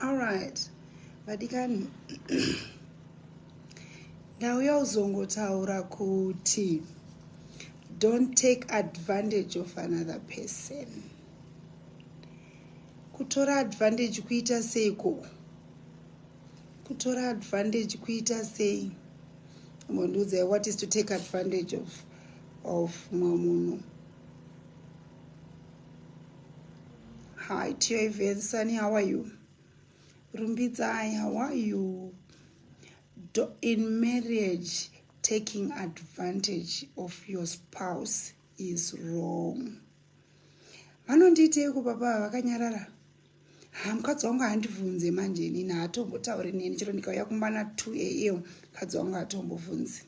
Alright, vadikani ndauya uzongotaura kuti don't take advantage of another person kutora advantage kuita seiko kutora advantage kuita sei mondiudzai what is to take advantage of of mumwe munhu Hi, Tioive Nsani, how are you? Rumbidzai, how are you? Do, in marriage, taking advantage of your spouse is wrong. Vanondiiteiko baba vakanyarara? Ha, mukadzi wangu handibvunze manje inini haatombotauri neni chero ndikauya kumba na 2 am mukadzi wangu hatombobvunzi.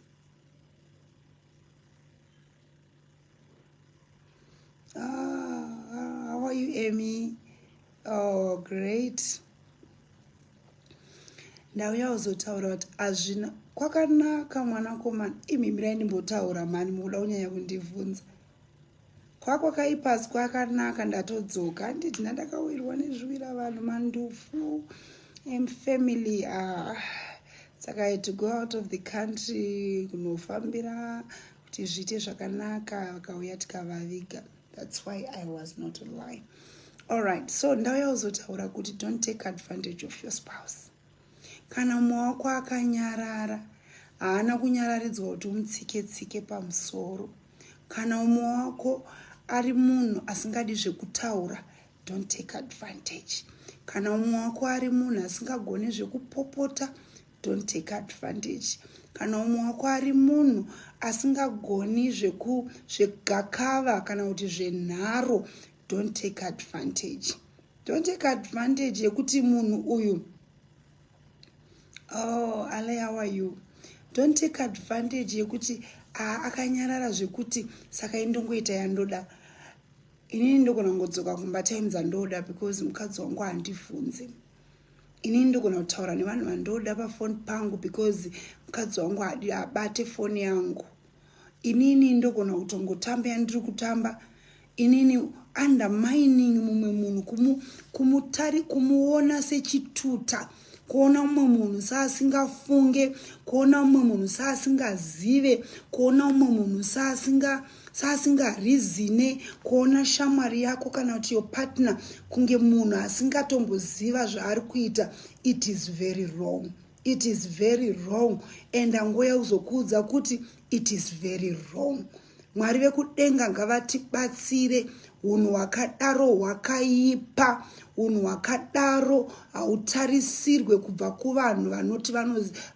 Ah, how are you, Amy? Oh, great. ndauya uzotaura kuti hazvina kwakanaka mwanakomana imhimirai ndimbotaura mhani mukuda kunyanya kundivhunza kwako kaipasi kwakanaka ndatodzoka handiti ndandakawirwa nezviwira vanhu mandufu emfamily ah. saka i to go out of the country kunofambira tizviite zvakanaka vakauya tikavaviga that's why i was not lying allright so ndauya kuzotaura kuti don't take advantage of your spouse kana mumwe wako akanyarara haana kunyararidzwa kuti umutsike tsike pamusoro kana umwe wako ari munhu asingadi zvekutaura don't take advantage kana umwe wako ari munhu asingagone zvekupopota don't take advantage kana umwe wako ari munhu asingagoni zvegakava kana kuti zvenharo don't take advantage don't take advantage yekuti munhu uyu oh ale how are you don't take advantage yekuti ah, akanyarara zvekuti saka indongoita yandoda inini ndogona ngodzoka kumba time dzandoda because mukadzi wangu handifunze ini ndogona kutaura nevanhu vandoda pafoni pangu because mukadzi wangu adi abate foni yangu inini ndogona kutongotamba yandiri kutamba inini undermining mumwe munhu kumu, kumutari kumuona sechituta kuona umwe munhu saasingafunge kuona umwe munhu saasingazive kuona umwe munhu saasinga saasinga reasone kuona shamwari yako kana kuti your partner kunge munhu asingatomboziva zvaari kuita it is very wrong it is very wrong and angoya kuzokuudza kuti it is very wrong mwari vekudenga ngavatibatsire unhu hwakadaro hwakaipa Hunhu hwakadaro hautarisirwe kubva kuvanhu vanoti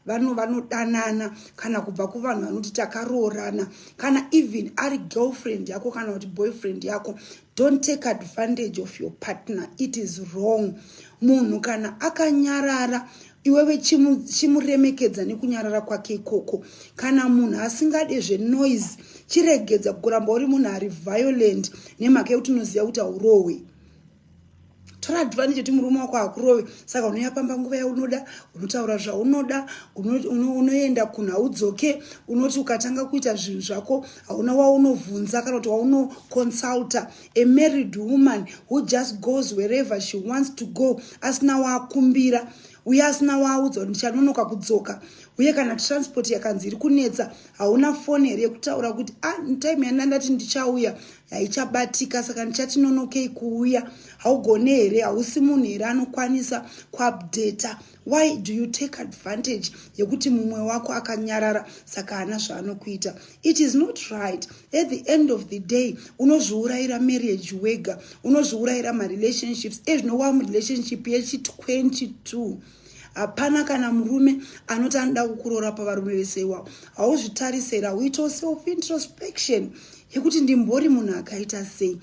vano vanodanana kana kubva kuvanhu vanoti takaroorana kana even ari girlfriend yako kana kuti boyfriend yako don't take advantage of your partner it is wrong munhu kana akanyarara iwewe chimuremekedza nekunyarara kwake ikoko kana munhu asingade zvenoise chiregedza kuramba uri munhu ari violent nemhaka yekuti unoziva kuti haurohwe tora advantage yekuti murume wako hakurove saka unoya pamba nguva yaunoda unotaura zvaunoda unoenda kunhu haudzoke unoti ukatanga kuita zvinhu zvako hauna waunovhunza kana kuti waunoconsulta a married woman who just goes wherever she wants to go asina waakumbira uye asina waaudza kuti ndichanonoka kudzoka uye kana transport yakanzi iri kunetsa hauna foni here yekutaura kuti a ah, time yandandati ndichauya haichabatika saka ndichati nonokei kuuya haugone here hausi munhu here anokwanisa kuupdata why do you take advantage yekuti mumwe wako akanyarara saka haana zvaanokuita it is not right at the end of the day unozviurayira marriage wega unozviurayira marelationships ezvino wa murelationship yechi 22 hapana kana murume anoti anoda kukuroora pavarume vese iwawo hauzvitarisera uitawo self introspection yekuti ndimbori munhu akaita sei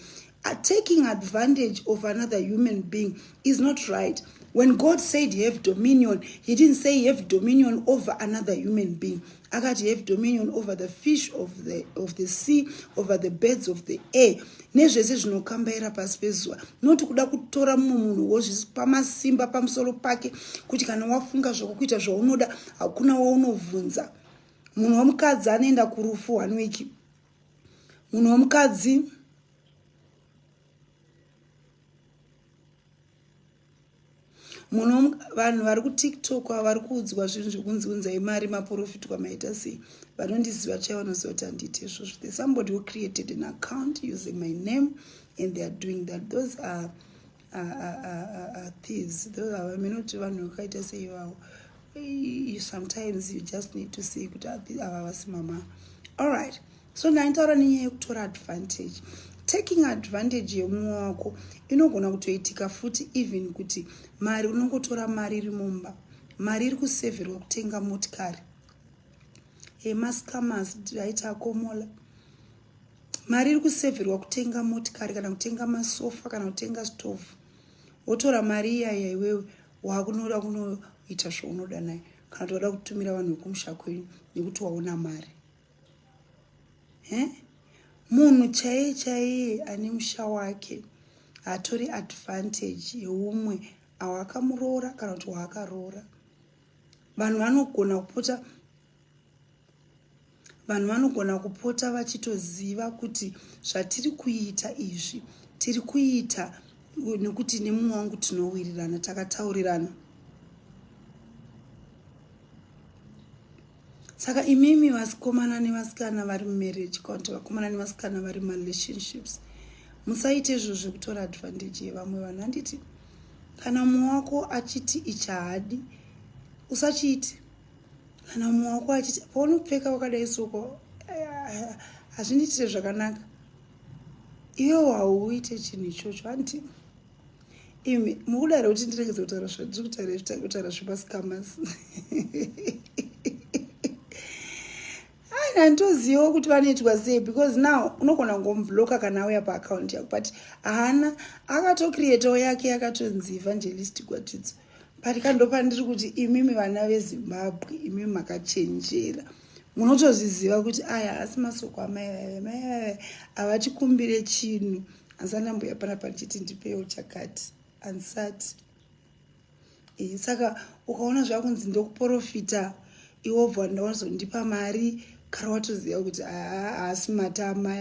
taking advantage of another human being is not right when god said have dominion he didn't say have dominion over another human being akati have dominion over the fish of the, of the sea over the birds of the air nezvese zvinokambaira pasi pezuva noti kuda kutora mumwe munhu wozvipa masimba pamusoro pake kuti kana wafunga zvokukuita zvaunoda hakuna waunovhunza munhu womukadzi anoenda kurufu one week munhu womukadzi muno vanhu vari kutiktok ava vari kuudzwa zvinhu zvekunzi unzai mari maporofiti kwamaita sei vanondiziva chai vanoziva kuti handiite izvozvo the somebody who created an account using my name and they are doing that those are thieves those are vamene kuti vanhu vakaita sei vavo sometimes you just need to see kuti ava vasi mama all right so ndaitaura nenyaya yekutora advantage taking advantage yemumwe wako inogona kutoitika futi even kuti mari unongotora mari iri mumba mari iri kuseverwa kutenga motikari emascamas aita akomola mari iri kuseverwa kutenga motikari kana kutenga masofa kana kutenga stove wotora mari iyaya iwewe wakunoda kunoita zvaunoda nayo kana toda kutumira vanhu vekumusha kwenyu nekuti waona mari eh? munhu chaiye chaiye ane musha wake hatori advantage yeumwe awakamuroora kana kuti waakaroora vanhu vanogona kupota vanhu vanogona kupota vachitoziva kuti zvatiri kuita izvi tiri kuita nekuti nemumwe wangu tinowirirana takataurirana Saka imimi vasikomana nevasikana vari mumarriage kana kuti vakomana nevasikana vari mumarelationships, musaite izvo zvekutora advantage yevamwe vanhu. Handiti kana mumwe wako achiti ichi haadi, usachiite. Kana mumwe wako achiti paunopfeka wakadai soko hazvindiitire zvakanaka, iwewo hauite chinhu ichocho, handiti? imi mukudaro kuti ndiregedze kutaura zvandiri kutaura izvi tange kutaura zvemascamas haina nditozivawo kuti vanoitwa sei because now unogona kungomubloka kana auya paakaunti yako but haana akatocreatawo yake yakatonzi evangelist gwatidzo but kandopandiri kuti imimi vana vezimbabwe imimi makachenjera munotozviziva kuti aya haasi masoko amai vave mai vave havatikumbire chinhu asi anambuya panapa ndichiti ndipewo chakati ansati e, saka ukaona zvakunzi ndokuporofita iwobva ndawazondipa mari kare watoziva kuti haasi matama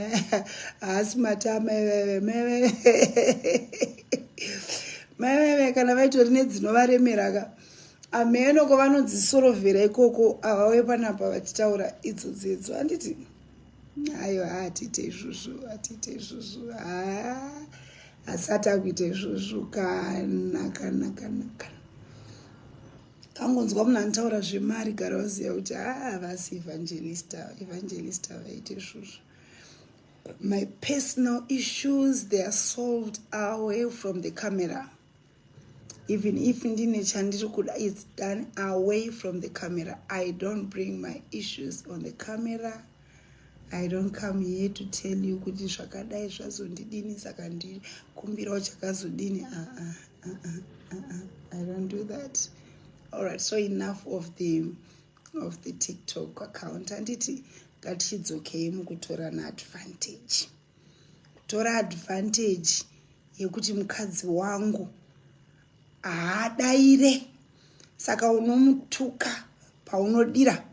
haasi matama iveve meveve meveve kana vaitori nedzinovaremeraka ameno kwavanodzisorovhera ikoko avauye panapa vachitaura idzo dzedzo handiti ayo haatiite izvozvo atiite izvozvo asati akuita izvozvo kana kana kana kana kangonzwa munhu anotaura zvemari gara vaziva kuti haavasi evangelista evangelista vaite izvozvo my personal issues they are solved away from the camera even if ndine chandiri kuda its done away from the camera i don't bring my issues on the camera i don't come here to tell you kuti zvakadai zvazondidini saka ndikumbirawo chakazodini aa ah, aa ah, aa ah, aa i don't do that allright so enough of the of the tiktok account handiti ngatichidzokei mukutorana advantage kutora advantage yekuti mukadzi wangu haadaire saka unomutuka paunodira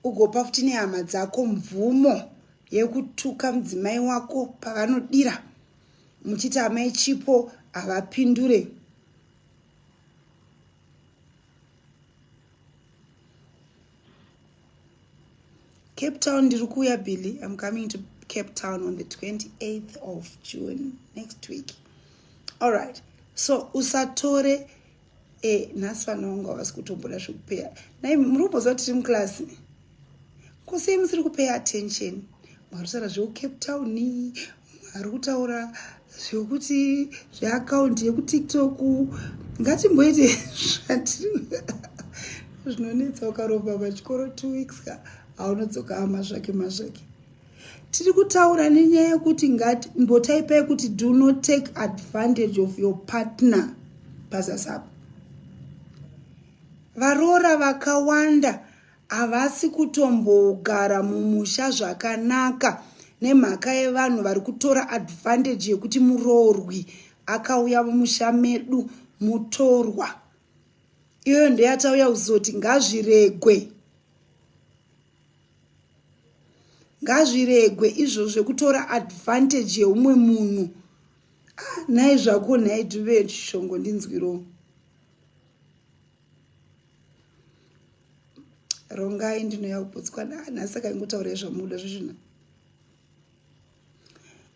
ugopa futi nehama dzako mvumo yekutuka mudzimai wako pavanodira muchiti amai chipo havapindure cape town ndiri kuuya billy im coming to cape town on the 28th of june next week all right so usatore e eh, nhasi vana vangu havasi kutomboda zvekupeya nai muri kumboziva tiri muklasi kosei musiri kupeya attention mwarusara zvekucape town ari kutaura zvekuti zveakaunti yekutiktok ngatimboite zvati zvinonetsa ukaromba pachikoro two weeks ka aunodzoka amazvake mazvake tiri kutaura nenyaya yekuti ngati mbotaipai kuti do not take advantage of your partner pazasapo varoora vakawanda Havasi kutombogara mumusha zvakanaka nemhaka yevanhu vari kutora advantage yekuti muroorwi akauya mumusha medu mutorwa. Iyoyo ndeyatauya kuzoti ngazviregwe. Ngazviregwe izvo zvekutora advantage yeumwe munhu. Ah, nhai zvako nhai Dube Shongo ndinzwirowo. rongai ndinouya kuputswa nana saka ingotaurai zvamuda zvezvina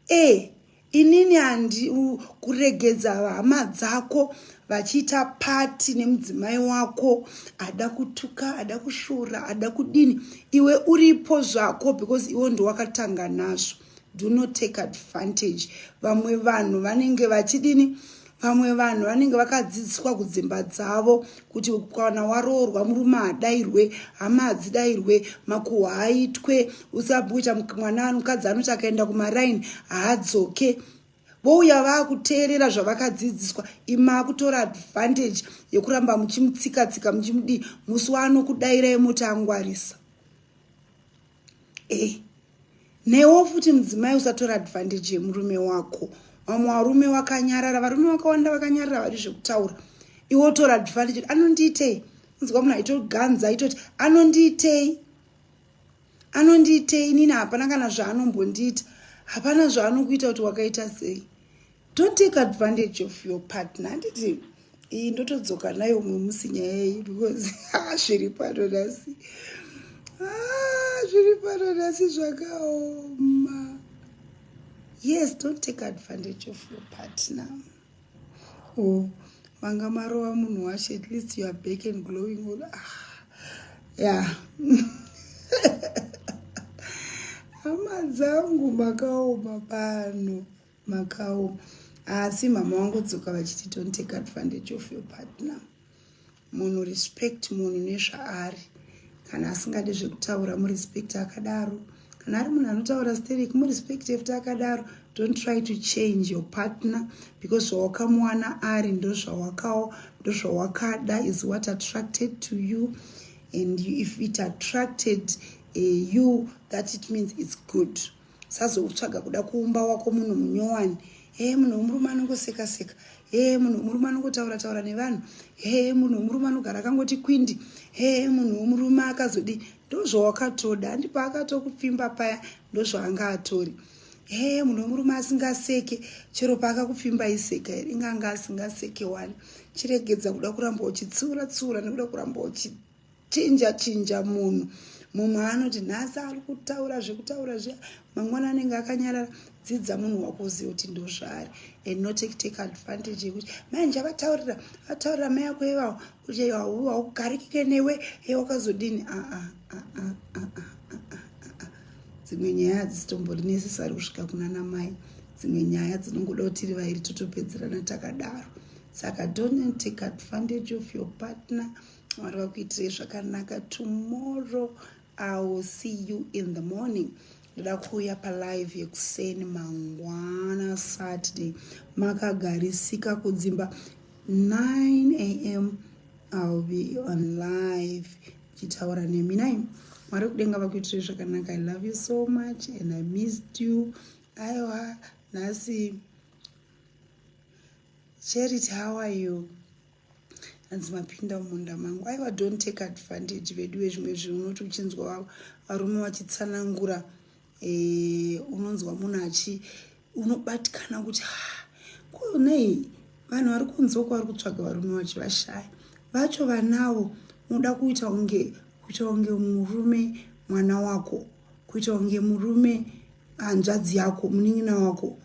e eh, inini handi kuregedza hama dzako vachiita pati nemudzimai wako ada kutuka ada kushura ada kudini iwe uripo zvako because iwe ndowakatanga nazvo do not take advantage vamwe vanhu vanenge vachidini vamwe vanhu vanenge vakadzidziswa kudzimba dzavo kuti kana waroorwa murume hadairwe hama hadzidairwe makuhwa haaitwe usabuita mwana mukadzi anoti akaenda kumaraini haadzoke vouya vaakuteerera zvavakadzidziswa imaakutora advantage yekuramba muchimutsikatsika muchimudii musi waanokudairai moti angwarisa e newo futi mudzimai usatora advantage yemurume wako vamwe varume vakanyarara varume vakawanda vakanyarara vadi zvekutaura iwo tora advantage anondiitei nzwa munhu aitoganza aitoti anondiitei anondiitei nini hapana kana zvaanombondiita hapana zvaanokuita kuti wakaita sei Don't take advantage of your partner. Handiti iyi ndotodzoka nayo umwe musi nyaya yeyi because zviri pano nhasi zviri pano nhasi zvakaoma. Yes, don't take advantage of your partner. Oh, manga marova munhu wacho at least you are back and glowing all. Ah, yeah. hama dzangu makaoma pano. makawo asi mama wangodzoka vachiti don't take advantage of your partner munhu respect munhu nezvaari kana asingade zvekutaura murespect akadaro kana ari munhu anotaura steric murespect efti akadaro don't try to change your partner because zvawakamuwana ari ndozvawakawo ndozvawakada is what attracted to you and if it attracted uh, you that it means it's good Sazoutsvaga kuda kuumba wako munhu munyowani. Hee munhu wemurume anongoseka seka. Hee munhu wemurume anongotaura taura nevanhu. Hee munhu wemurume anogara akangoti kwindi. Hee munhu wemurume akazodi ndozvawakatoda handi paakatokupfimba paya ndozvaanga atori. Hee munhu wemurume asingaseke chero paakakupfimba iseka here inganga asingaseke wani. Chiregedza kuda kuramba uchitsiura tsiura nekuda kuramba uchi chinja chinja munhu mumwe anoti nhasi ari kutaura zvekutaura zviya mangwana anenge akanyarara dzidza munhu wako uzive kuti ndozvaari and not take advantage yekuti mai njavataurira vataurira mai yako ivavo kuti haugarikike newe e wakazodini aa dzimwe nyaya hadzisitombondi necessary kusvika kuna namai dzimwe nyaya dzinongoda kuti ri vairi totopedzerana takadaro saka don't take advantage of your partner mwari vakuitirei zvakanaka tomorrow iwill see you in the morning ndoda kuuya palive yekuseni mangwana saturday makagarisika kudzimba 9 am iwill be on live ndichitaura nemi nai mwari kudenga vakuitirei zvakanaka i love you so much and i missed you aiwa nhasi charity how are you hanzi mapinda mumunda mangu aiwa don't take advantage veduwe zvimwe zvinhu unoti uchinzwa varume vachitsanangura eh, unonzwa munhu achi unobatikana kuti ah, kunei vanhu vari kunzwa kwavari kutsvaga varume vachivashaya vacho vanawo unoda kuita unge kuita unge murume mwana wako kuita unge murume hanzvadzi yako munin'ina wako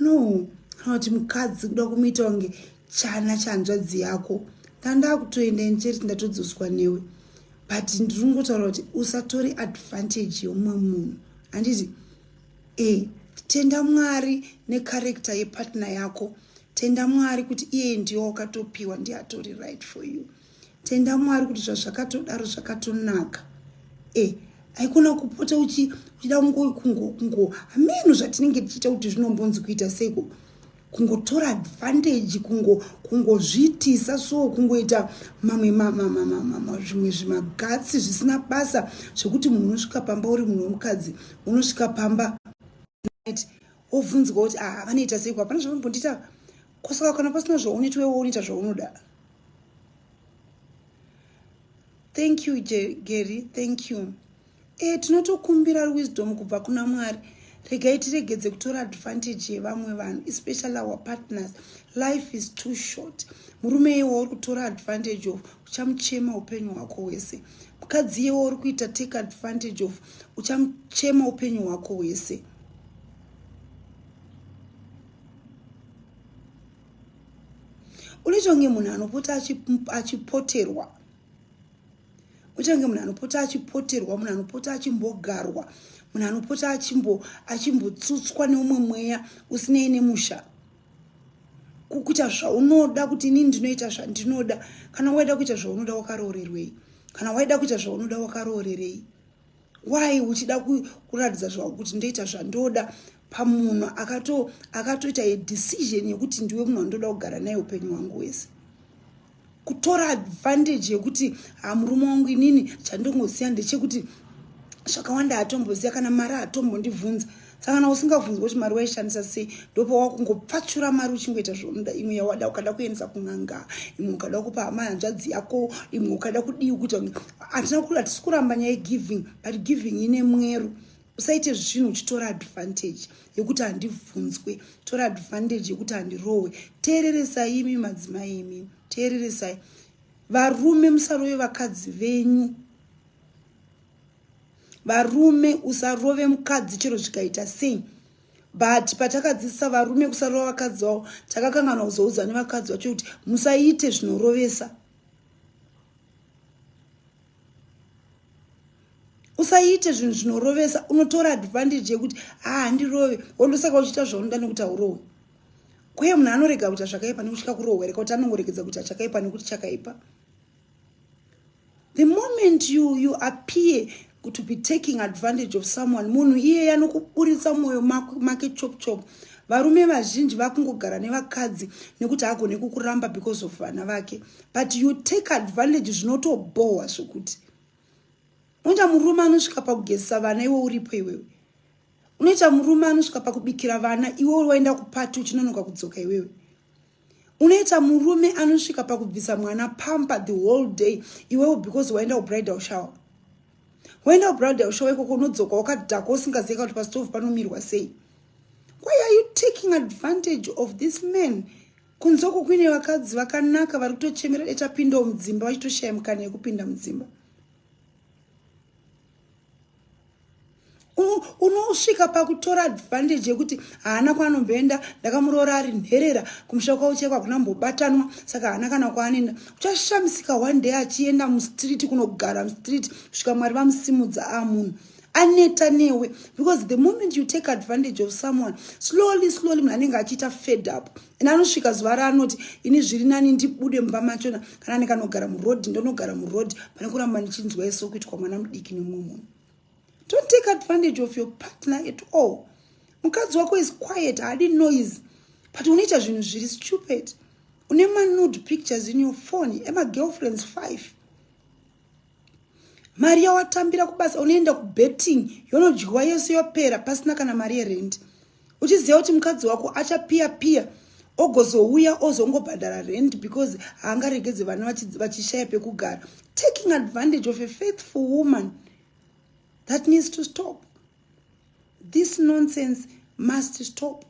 no anoti mukadzi kuda kumuita kunge chana chanzvadzi yako ndandakutoenda inchurch ndatodzoswa newe but ndiri kungotaura kuti usatore advantage yomumwe munhu handiti e tenda mwari necarector yepartner yako tenda mwari kuti iye ndiyo wakatopiwa ndiatori right for you Tenda Mwari kuti zvazvakatodaro zvakatonaka. Eh, haikona kupota uchida kungo kungo kungo hameno zvatinenge tichiita kuti zvinombonzi kuita seiko kungotora advantage kungo kungozviitisa so kungoita mamwe zvimwe zvimagatsi zvisina basa zvekuti munhu unosvika pamba uri munhu wemukadzi unosvika pamba wobvunzwa kuti ah vanoita seiko hapana zvavanombondiita kosaka kana pasina zvaunetwewo unoita zvaunoda thank you gary thank you e tinotokumbira wisdom kubva kuna mwari regai tiregedze kutora advantage yevamwe vanhu especially our partners life is too short murume iye wauri kutora advantage of uchamuchema upenyu hwako hwese mukadzi iye wauri kuita take advantage of uchamuchema upenyu hwako hwese unoita kunge munhu anopota achipoterwa unoita kunge munhu anopota achipoterwa munhu anopota achimbogarwa munhu anopota achimbotsutswa neumwe mweya usinei nemusha kukuita zvaunoda kuti inini ndinoita zvandinoda kana waida kuita zvaunoda wakaroorerwei kana waida kuita zvaunoda wakaroorerei why uchida kuratidza zvavo kuti ndoita zvandoda pamunhu akato akatoita a decision yekuti ndiwe munhu wandoda kugara naye upenyu hwangu wese kutora advantage yekuti hamurume wangu inini chandongosiya ndechekuti zvakawanda hatomboziva kana mari hatombondibvunza saka kana usingabvunzwa kuti mari waishandisa sei ndopa wakungopfachura mari uchingoita zvaunoda imwe yawada ukada kuendesa kun'anga imwe ukada kupa hama hanzvadzi yako imwe ukada kudii kuita hatina kuri hatisi kuramba nyaya yegiving but giving ine mwero usaite zvinhu uchitora advantage yekuti handibvunzwe tora advantage yekuti handirohwe teereresai imi madzimai imi teereresai varume musaroye vakadzi venyu varume usarove mukadzi chero zvikaita sei but patakadzidzisa varume kusarova vakadzi vavo takakanganwa kuzoudza nevakadzi vacho kuti musaite zvinorovesa usaite zvinhu zvinorovesa unotora advantage yekuti haandirove ah, wondosaka uchiita zvaunoda nekuti haurohwe kwee munhu anorega kuita zvakaipa nekutya kurohwereka kuti anongoregedza kuita chakaipa nekuti chakaipa the moment you, you appear to be taking advantage of someone munhu iye yanokuburitsa mwoyo make chop chop varume vazhinji vakungogara nevakadzi nekuti hagone kukuramba because of vana vake but you take advantage zvinotobhohwa zvekuti unoita murume anosvika pakugezisa vana iwe uripo iwewe unoita murume anosvika pakubikira vana iwe waenda kupati uchinonoka kudzoka iwewe unoita murume anosvika pakubvisa mwana pamper the whole day iwewo because waenda kubridal shower waenda kubridal shower ikoko unodzoka wakadhakwa usingazieka kuti pastove panomirwa sei why are you taking advantage of this man kunzoko kuine vakadzi vakanaka vari kutochemera detapindawo mudzimba vachitoshaya mukana yekupinda mudzimba unosvika pakutora advantage yekuti haana kwaanomboenda ndakamuroora ari nherera kumusha kwavo chaiko hakuna mbobatanwa saka haana kana kwaanoenda uchashamisika one day achienda mustreet kunogara mustreet kusvika mwari vamusimudza a munhu aneta newe because the moment you take advantage of someone slowly slowly munhu anenge achiita fed up and anosvika zuva raanoti ini zviri nani ndibude mumba machona kana ndikanogara muroad ndonogara muroad pane kuramba ndichinzwa iso kuitwa mwana mudiki nemumwe munhu don't take advantage of your partner at all mukadzi wako is quiet haadi noise but unoita zvinhu zviri stupid une manude pictures in your phone emagirlfriends five mari yawatambira kubasa unoenda kubetting yonodyiwa yose yopera pasina kana mari yerendi uchiziva kuti mukadzi wako achapiya piya ogozouya ozongobhadhara rend because haangaregedze vana vachishaya pekugara taking advantage of a faithful woman that needs to stop this nonsense must stop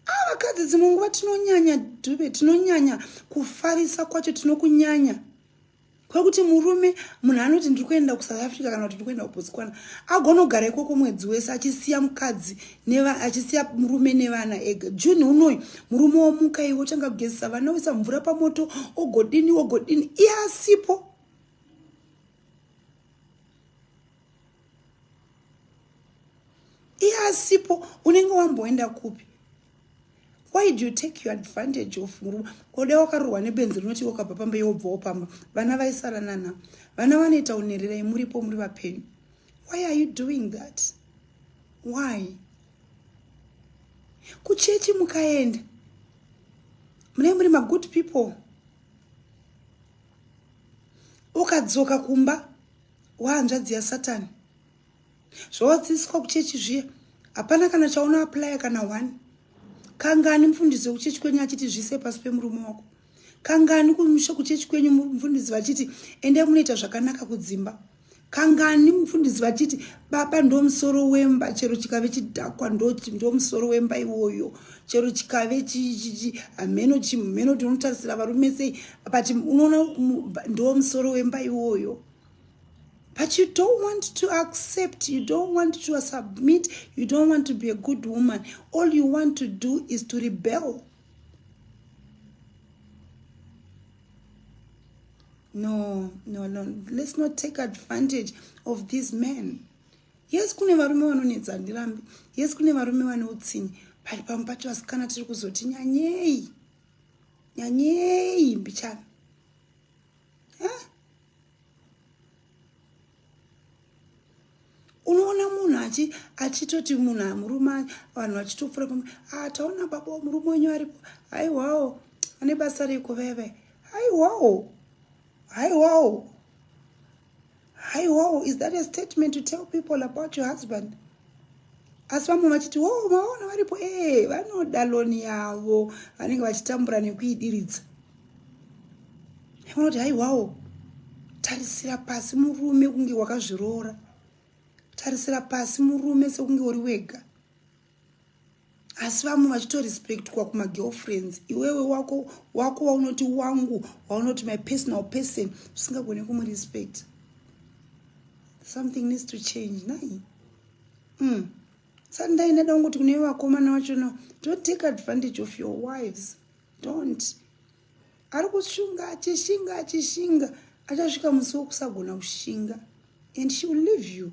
a ah, vakadzi dzimwe nguva tinonyanya dube tinonyanya kufarisa kwacho tinokunyanya kwekuti murume munhu anoti ndiri kuenda kusouth africa kana kuti ndiri kuenda kubotswana agonogara ikoko mwedzi wese achisiya mukadzi achisiya murume nevana ega june unoyu murume womuka iwe otanga kugezesa vana oisa mvura pamoto ogodini ogodini iye asipo iye asipo unenge wamboenda kupi why do you take your advantage of murume oda wakarohwa nebenzi rinoti wakabva pamba iye wobvawo pamba vana vaisara nana vana vanoita unerera imuripo muri vapenyu why are you doing that why kuchechi mukaenda munee muri magood people ukadzoka kumba wahanzvadzi yasatani zvawadzidziswa kuchechi zviya hapana kana chaona aplya kana one kangani mfundisi wekuchechi kwenyu achiti zvise pasi pemurume wako kangani kumusha kuchechi kwenyu mfundisi vachiti endai munoita zvakanaka kudzimba kangani mfundisi vachiti baba ndomusoro wemba chero chikave chidhakwa ndomusoro wemba iwoyo chero chikave hameno chimheno tinotarisira varume sei but unoona ndo musoro wemba iwoyo but you don't want to accept you don't want to submit you don't want to be a good woman all you want to do is to rebel no no no let's not take advantage of these men yes kune varume vanonetsa handirambi yes kune varume vane utsinyi pari pamwe pacho vasikana tiri kuzoti nyanyei nyanyei mbichana huh? unoona munhu achi achitoti munhu amurume vanhu vachitopfura pamwe ah, taona baba murume wenyu aripo haiwawo ane basa reiko veve haiwawo Haiwawo. Haiwawo, is that a statement to tell people about your husband? asi vamwe vachiti wo oh, vaona varipo ee eh, vanoda loni yavo vanenge vachitambura nekuidiridza vanoti haiwawo tarisira pasi murume kunge wakazviroora tarisira pasi murume sekunge uri wega asi vamwe vachitorespectwa kumagirlfriends iwewe wako wako waunoti wangu waunoti my personal person usingagone kumurespect something needs to change nai mm. saka ndaina da kungoti kune vakomana vacho no don't take advantage of your wives don't ari kushunga achishinga achishinga achasvika musi wekusagona kushinga and she will leave you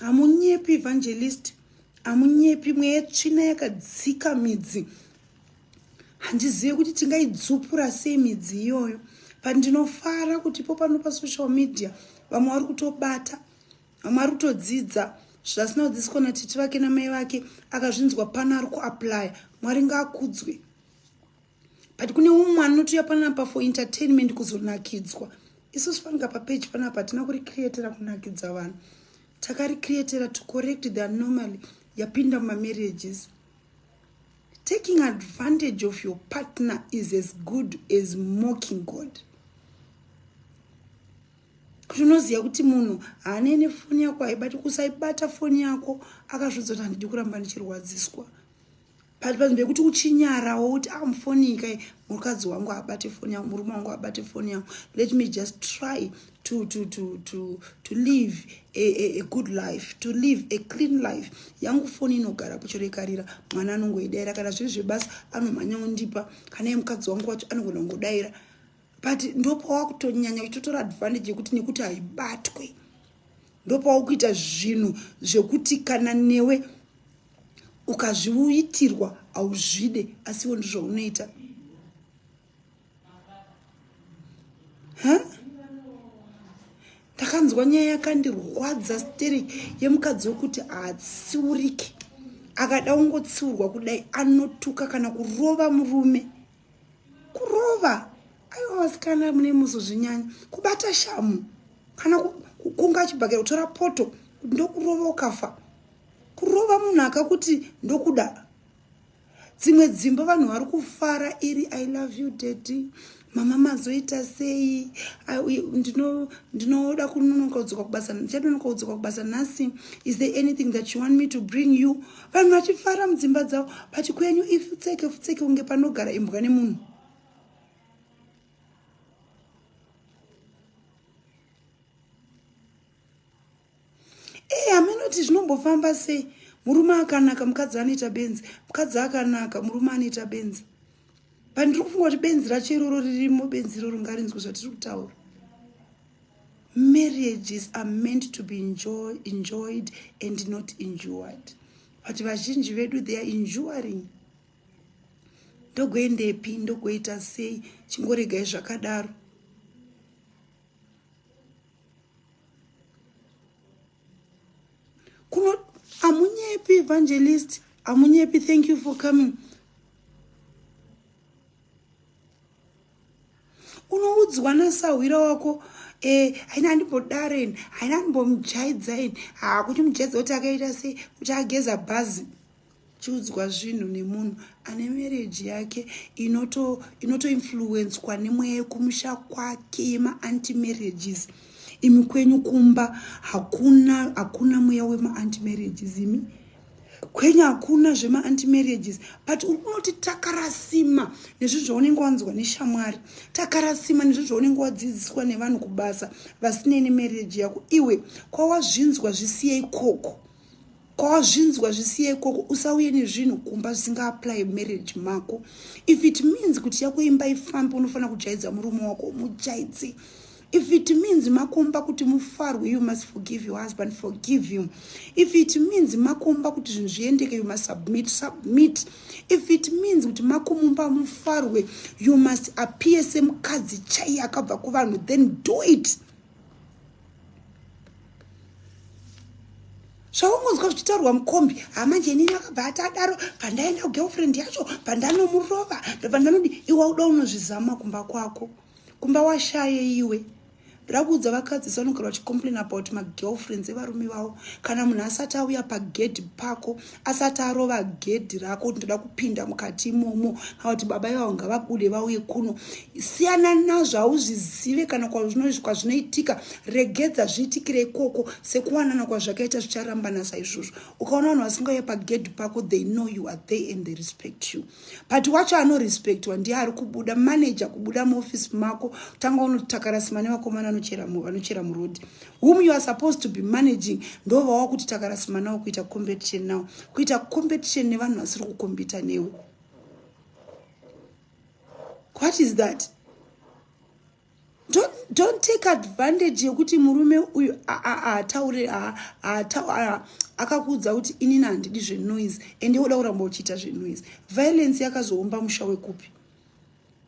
Hamunyepi evangelist, hamunyepi mweya yetsvina yakadzika midzi. Handizive kuti tingaidzupura sei midzi iyoyo. But ndinofara kuti ipo pano pasocial media vamwe vari kutobata, vamwe vari kutodzidza zvasina kudzidziswa natete vake namai vake akazvinzwa pano ari kuaplya. Mwari ngaakudzwe. but kune umwe anotiuya panapa for entertainment kuzonakidzwa isu sifanika papeji panapa hatina kuricreatera kunakidza vanhu takaricreatera to correct the anomaly yapinda mumamarriages taking advantage of your partner is as good as mocking god kuti unoziva kuti munhu haane nefoni yako haibati kusaibata foni yako akazvidzoti handidi kuramba ndichirwadziswa but panzvimbo yekuti uchinyarawo kuti a ah, mufonika mukadzi wangu abate foni yangu murume wangu abate foni yangu let me just try to, to, to, to, to live a, a, a good life to live a clean life yangu foni inogara kuchorekarira mwana anongoidaira kana zviri zvebasa anomhanya undipa kana ye mukadzi wangu wacho anogona kungodaira but ndopawa kutonyanya uchitotora advantage yekuti nekuti haibatwe ndopawa kuita zvinhu zvekuti kana newe ukazviitirwa hauzvide asiwo ndizvounoita ndakanzwa nyaya yakandirwadza steri yemukadzi wekuti haatsiuriki akada ungotsiurwa kudai anotuka kana kurova murume kurova aiwa vasikana mune muzozvinyanya kubata shamu kana kukunga chibhakera kutora poto ndokurova ukafa kurova munhu akakuti ndokuda dzimwe dzimba vanhu vari kufara iri i love you daddy mama mazoita sei ndinoda kunonokaudzwa kubasa ndichanonokaudzwa kubasa nhasi is there anything that you want me to bring you vanhu vachifara mudzimba dzavo but kwenyu ifutseke futseke kunge panogara imbwa nemunhu eya munoti zvinombofamba sei murume akanaka mukadzi anoita benzi mukadzi akanaka murume anoita benzi but ndiri kufunga kuti benzi racho iroro ririmo benzi iroro ngarinzwe zvatiri kutaura marriages are meant to be enjoy, enjoyed and not endured but vazhinji vedu they are enduring ndogoendepi ndogoita sei chingoregai zvakadaro kuno amunyepi evangelist amunyepi thank you for coming unoudzwa nasahwira wako eh, haina e, andimbodaren haina andimbomujaidzai hakuti mujaidzai kuti akaita sei kuti ageza bhazi chiudzwa zvinhu nemunhu ane marriage yake inoto inotoinfluencwa nemweya yekumusha kwake yemaanti marriages imi kwenyu kumba hakuna hakuna mweya wemaanti marriages imi kwenyu hakuna zvemaanti marriages but unoti takarasima nezvi zvaunenge wanzwa neshamwari takarasima nezvi zvaunenge wadzidziswa nevanhu kubasa vasinei nemarriage yako iwe kwawazvinzwa zvisiyei koko kwawazvinzwa zvisiye ikoko usauye nezvinhu kumba zvisingaapply marriage mako if it means kuti yako imba ifambe unofanira kujaidza murume wako mujaidze if it means makomba kuti mufarwe you must forgive your husband forgive him if it means makomba kuti zvinhu zviendeke you must submit submit if it means kuti makomumba mufarwe you must appear semukadzi chaiye akabva kuvanhu then do it zvaungonzwa zvichitaurwa mukombi hamanje inini akabva ati adaro pandaenda kugirlfriend yacho pandanomurova ndobva ndanodi iwa uda unozvizama kumba kwako kumba washaye iwe ndoda kuudza vakadzi sanogara vachicomplain about magirlfriends evarume vavo kana munhu asati auya pagedhi pako asati arova gedhi rako ndinoda kupinda mukati imomo kana kuti baba ivavo ngavabude vauye kuno siyana nazvo hauzvizive kana kwazvinoitika regedza zviitikire ikoko sekuwanana kwazvakaita zvicharambana saizvozvo ukaona vanhu vasingauye pagedhi pako they know you are there and they respect you but wacho anorespectwa ndiye ari kubuda manager kubuda muoffice mako kutanga unotakarasima nevakomana vanochera muroad whom you are supposed to be managing ndovawa kuti takarasima nawo kuita competition nawo kuita competition nevanhu vasiri kukombita newe what is that don't, don't take advantage yekuti murume uyu ataure akakuudza kuti inini handidi zvenoise ende woda kuramba uchiita zvenoise violence yakazoomba musha wekupi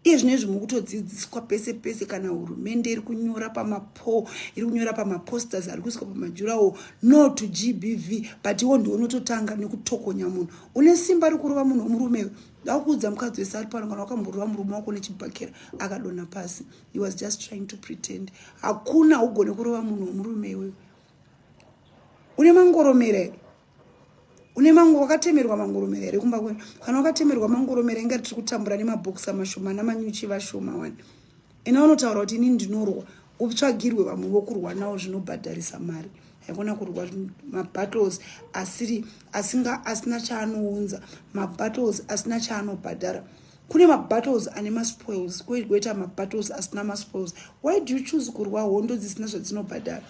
iye zvino izvi mukutodzidziswa pese pese kana hurumende iri kunyora pamapo iri kunyora pamaposters ari kuiswa pamajurawo no to gbv but iwo ndiwo unototanga nekutokonya munhu une simba rikurova munhu womurume Ndakuudza mukadzi wese ari pano kana wakamborova murume wako nechibhakera akadonha pasi. He was just trying to pretend. Hakuna ugone kurova munhu wemurume iwewe. Une mangoromera here? Une mango wakatemerwa mangoromera here kumba kwenu? Kana wakatemerwa mangoromera inga tiri kutambura nemabhokisi amashoma namanyuchi vashoma wani. Ena vanotaura kuti ini ndinorohwa upsvagirwe vamwe vokurwa nawo zvinobhadharisa mari haikona kurwa mabattles asiri asinga asina chaanounza mabattles asina chaanobhadhara kune mabattles ane maspoils koita mabattles asina maspoils why do you choose kurwa hondo dzisina zvadzinobhadhara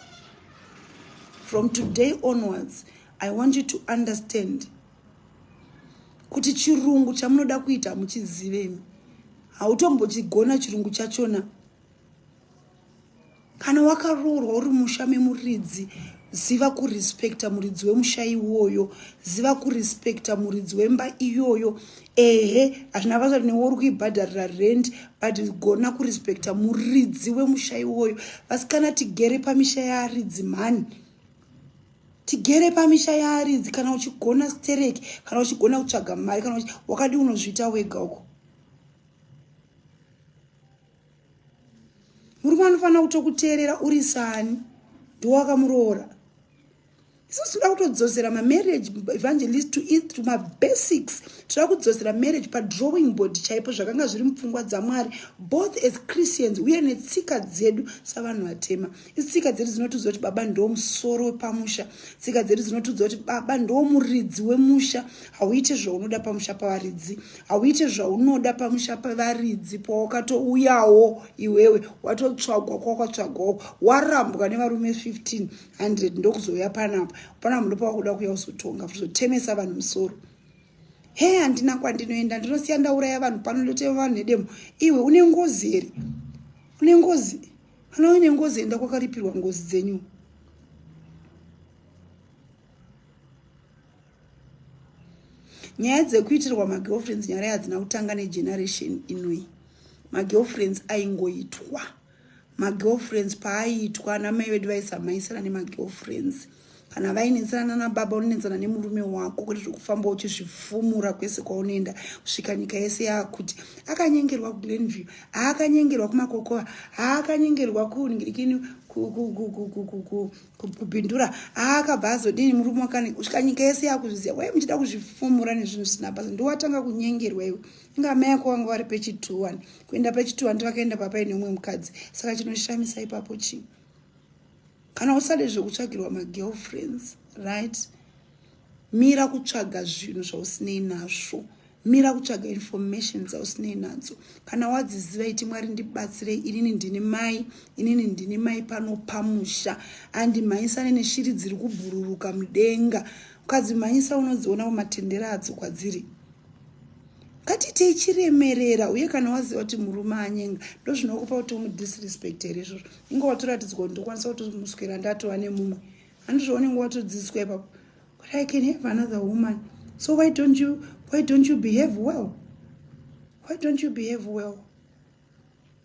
from today onwards i want you to understand kuti chirungu chamunoda kuita muchizivemi hautombochigona chirungu chachona kana wakaroorwa uri musha memuridzi ziva kurespecta muridzi wemusha iwoyo ziva kurespecta muridzi wemba iyoyo ehe hazvina basa kuti newe uri kuibhadharira rent but gona kurespecta muridzi wemusha iwoyo vasikana tigere pamisha yearidzi mhani tigere pamisha yearidzi kana uchigona stereki kana uchigona kutsvaga mari kana wakadi unozviita wega uko murume anofanira kutokuteerera uri sani ndowakamuroora isu tinoda kutodzosera mamarriage evangelist to it to mabasics tinoda kudzosera marriage padrawing board chaipo zvakanga zviri mupfungwa dzamwari both as christians uye netsika dzedu savanhu vatema isi tsika dzedu dzinotiudza kuti baba ndoo musoro wepamusha tsika dzedu dzinotiudza kuti baba ndoo muridzi wemusha hauite zvaunoda pamusha pavaridzi hauite zvaunoda pamusha pevaridzi pawakatouyawo iwewe watotsvagwa kwawakatsvagwawo warambwa nevarume 1500 ndokuzouya panapa pana muno pawakuda kuya uzotonga kuzotemesa vanhu musoro he handina kwandinoenda ndinosiya ndauraya vanhu pano ndoteva vanhu nedemo iwe une ngozi here une ngozi Kana uine ngozi enda kwakaripirwa ngozi dzenyu. Nyaya dzekuitirwa magirlfriends nyara yadzina kutanga negeneration inoi. Magirlfriends aingoitwa. Magirlfriends paaiitwa namai vedu vaisamaisana nemagirlfriends. kana vainetsana nana baba unonetsana nemurume wako kuti zvekufamba uchizvifumura kwese kwaunoenda kusvika nyika yese yakuti akanyengerwa kuglenview haakanyengerwa kumakokova haakanyengerwa kunhirikini kupindura aakabva azodini murume wakane kusvika nyika yese yakuzviziva wai muchida kuzvifumura nezvinhu zvisina basa ndiwatanga kunyengerwa iwe inga amai ako vanga vari pechituwani kuenda pechituwani tivakaenda papaine umwe mukadzi saka chinoshamisa ipapo chii kana usade zvekutsvagirwa magirlfriends right mira kutsvaga zvinhu zvausinei nazvo mira kutsvaga information dzausinei nadzo kana wadziziva iti mwari ndibatsirei inini ndini mai inini ndini mai pano pamusha andi mhanyisane neshiri dziri kubhururuka mudenga ukadzimhanyisa unodziona kumatendera adzo kwadziri ngatiitei chiremerera uye kana waziva kuti murume anyenga ndozvinokupa kuti umudisrespect here izvozvo inga watoratidzwa kuti ndokwanisa kutomuswera ndatova nemumwe handizvo unenge watodzidziswa ipapo but i can have another woman so why don't you why don't you behave well why don't you behave well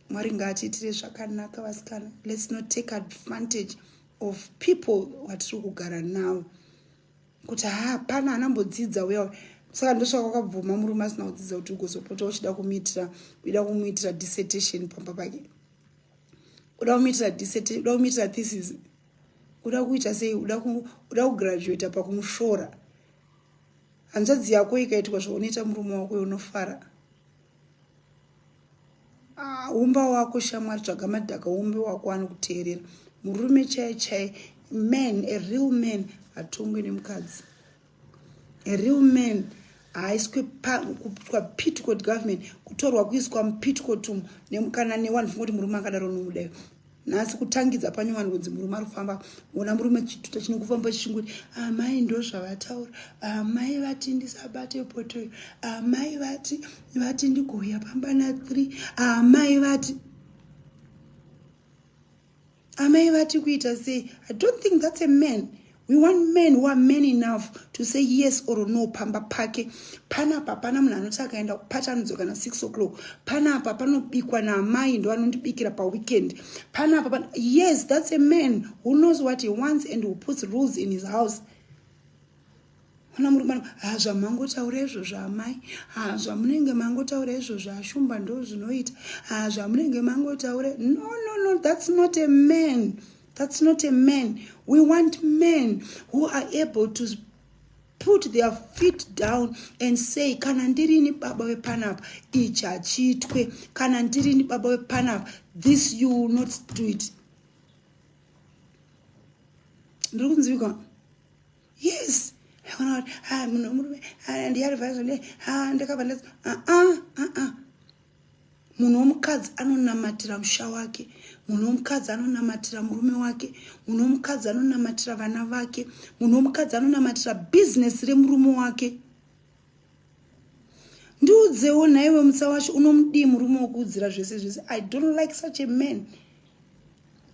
mwari ngaatiitire zvakanaka vasikana let's not take advantage of people watiri kugara navo kuti hapana anambodzidza uya well saka ndosvaka wakabvuma murume asina kudzidza kuti ugozopota uchida kumiitira uida kumuitira dissertation pamba pake uda kumuitira diseti uda kumuitira thesis uda kuita sei uda kugraduata pakumushora hanzvadzi yako ikaitwa zvaunoita murume wako unofara ah, umba wako shamwari tsvaga madhaka umbe wako anokuteerera murume chai chai man a real man hatongwe nemukadzi real man haiswe kupitcot government kutorwa kuiswa mupitcot umu kana newanhu fungoti murume akadaro nomudayo nhasi kutangidza pane vanhu kunzi murume ari kufamba ona murume chituta chine kufamba chichingoti amai ah, ndo zvavataura amai ah, vati ndisabate potoyo amai ah, vati vati ndigouya pamba na three amai vati amai vati kuita sei i don't think that's a man we want men who are man enough to say yes or no pamba pake panapa pana munhu anoti akaenda kupata anodzoka na six o'clock panapa panobikwa naamai ndo anondibikira paweekend panapa pan yes that's a man who knows what he wants and who puts rules in his house Ona muri mwana ha zvamangotaura izvozvo amai ha zvamunenge mangotaura izvozvo ashumba ndo zvinoita ha zvamunenge mangotaura no no no that's not a man that's not a man we want men who are able to put their feet down and say kana ndirini baba wepanapa ichi hachiitwe kana ndirini baba wepanapa this you will not do it ndiri kunzwikwa yes aona kuti ha munhu wemurume ndiarivaizvo ne ha ndakabva ndati aa ah, aa ah, ah, munhu womukadzi anonamatira musha wake munhu womukadzi anonamatira murume wake munhu womukadzi anonamatira vana vake munhu womukadzi anonamatira bhizinesi remurume wake ndiudzewo nhaiwe mutsawashi unomudii murume wokuudzira zvese zvese i don't like such a man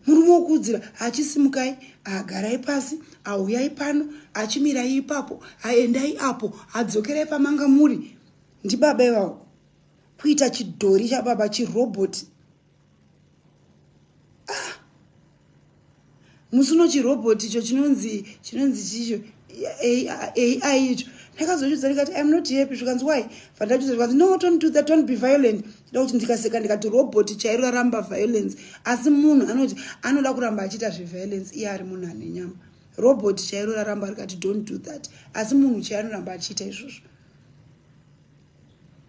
murume wokuudzira achisimukai agarai pasi auyai pano achimirai ipapo aendai apo adzokerai pamanga muri ndibaba ivavo kuita chidhori chababa chiroboti ah. musi uno chirobot icho chinonzi chinonzi chicho ai icho ndakazochudza ndikati im not happy zvikanzi why vandachudza zvikanzi no don't do that don't be violent nda kuti ndikaseka ndikati robot chairo raramba violence asi munhu anoti anoda kuramba achiita zveviolence iye ari munhu ane nyama robot chairo raramba rikati don't do that asi munhu chai anoramba achiita izvozvo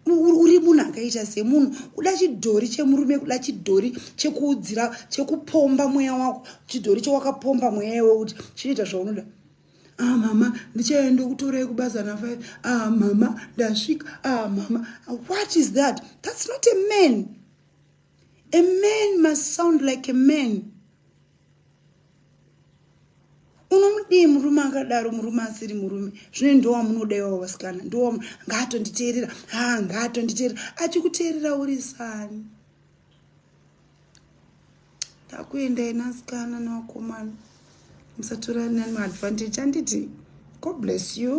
uri munhu akaita semunhu kuda chidhori chemurume kuda chidhori chekuudzira chekupomba mweya wako chidhori chewakapomba mweya iwe kuti chinoita zvaunoda ah mama ndichaenda kutorai kubasa na five ah mama ndasvika ah mama what is that that's not a man a man must sound like a man unomudii murume akadaro murume asiri murume zvine ndowamunoda iwawo vasikana ndowa ngaatonditeerera ha ngaatonditeerera achikuteerera uri sani takuenda ina sikana newakomana musatorani nani maadvantage anditi god bless you